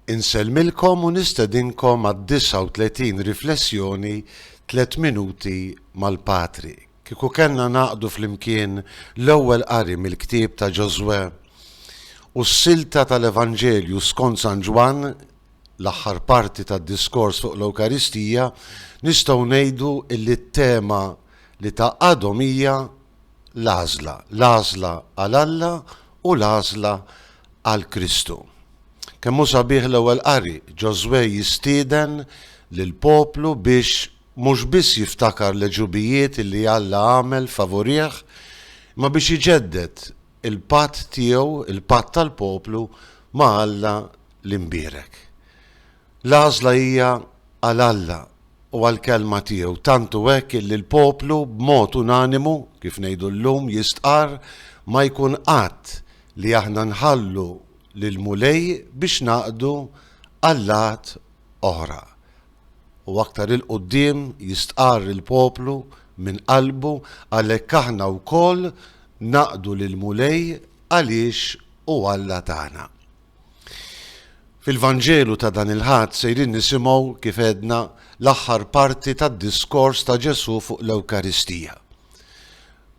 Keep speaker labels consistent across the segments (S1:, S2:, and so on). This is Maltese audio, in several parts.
S1: Insellmilkom u nistedinkom għad-39 riflessjoni Tliet Minuti mal-Patri. Kieku kellna ngħaqdu flimkien l-ewwel qari mill-ktieb ta' Ġożwè u s-silta tal-Evanġelju skont San Ġwann, l-aħħar parti tad-diskors fuq l-Ewkaristija, nistgħu ngħidu illi t-tema li tgħaqqadhom hija l-għażla, l-għażla għal Alla u l-għażla għal Kristu. Kemm hu sabiħ l-ewwel qari, Ġożwè jistieden lill-poplu biex mhux biss jiftakar l-għeġubijiet li Alla għamel favurih, imma biex iġedded il-patt tiegħu, il-patt tal-poplu ma' Alla l-imbierek. L-għażla hija għal Alla u għall-Kelma tiegħu, tant hu hekk illi l-poplu b'mod unanimu, kif ngħidu llum, jistqarr, Ma jkun qatt li aħna nħallu lill-Mulej biex ngħaqdu allat oħra. U aktar 'il quddiem jistqarr il-poplu minn qalbu, Għalhekk aħna wkoll naqdu lill-Mulej għaliex hu Alla tagħna. Fil-Vanġelu ta' dan il-Ħadd sejrin nisimgħu, kif għedna, l-aħħar parti tad-diskors ta' Ġesù fuq l-Ewkaristija.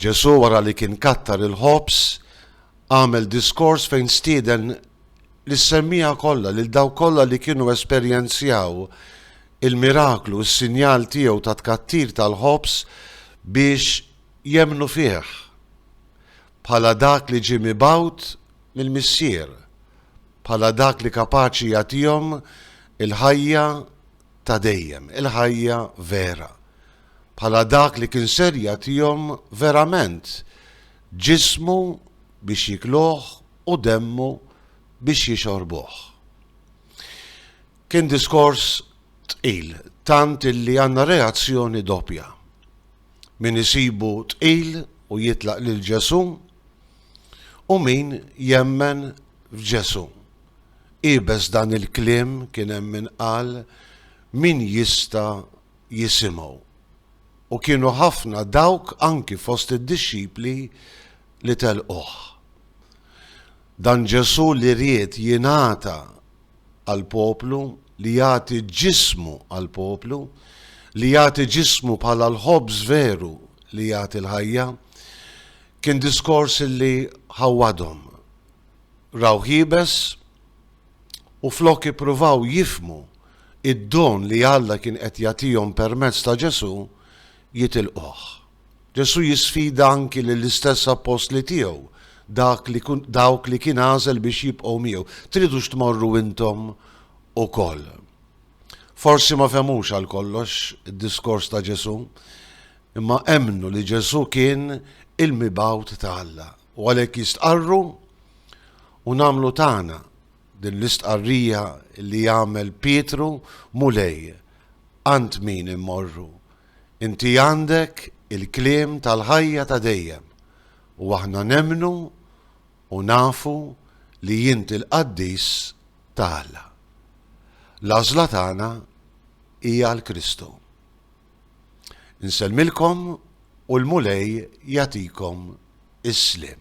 S1: Ġesù wara li kien kattar il-ħobż, għamel diskors fejn stieden lis-semmiegħa kollha lil dawk kollha li kienu esperjenzjaw il-miraklu, is-sinjal tiegħu ta' tkattir tal-ħobż biex jemmnu fih. bħala dak li ġie mibgħut mill-Missier, bħala dak li kapaċi jagħtihom il-ħajja ta' dejjem, il-ħajja vera, bħala dak li kien ser jagħtihom verament ġismu biex jikluh u demmu biex jixorbuh. Kien diskors tqil, tant illi għandna reazzjoni doppja. min isibu tqil u jitlaq lil Ġesù, u min jemmen f'Ġesù. Iebes dan il-kliem kien hemm min qal, Min jista' jisimgħu? U kienu ħafna dawk anki fost id-dixxipli li telquh. Dan Ġesù li ried jingħata għall-poplu, li jagħti ġismu għall-poplu, li jagħti ġismu bħala l-ħobż veru li jagħti l-ħajja, kien diskors li ħawwadhom. Rawh iebes u flok ippruvaw jifhmu id-don li Alla kien qed jagħtihom permezz ta' Ġesù, jitilquh. Ġesù jisfida anki lill-istess appostli tiegħu, dak li, dawk li kien għażel biex jibqgħu miegħu, Tridux tmorru intom ukoll? Forsi ma fehmux għal kollox id-diskors ta' Ġesù, imma emmnu li Ġesù kien il-mibgħut ta' Alla, u għalhekk jistqarru u nagħmlu tagħna din l-istqarrija li għamel Pietru, Mulej, għand min immorru? Inti għandek il-kliem tal-ħajja ta' dejjem u aħna nemmnu u nafu li int il-qaddis ta' Alla. L-għażla tagħna hi għal Kristu. Insellmilkom u l-Mulej jagħtikom is-sliem.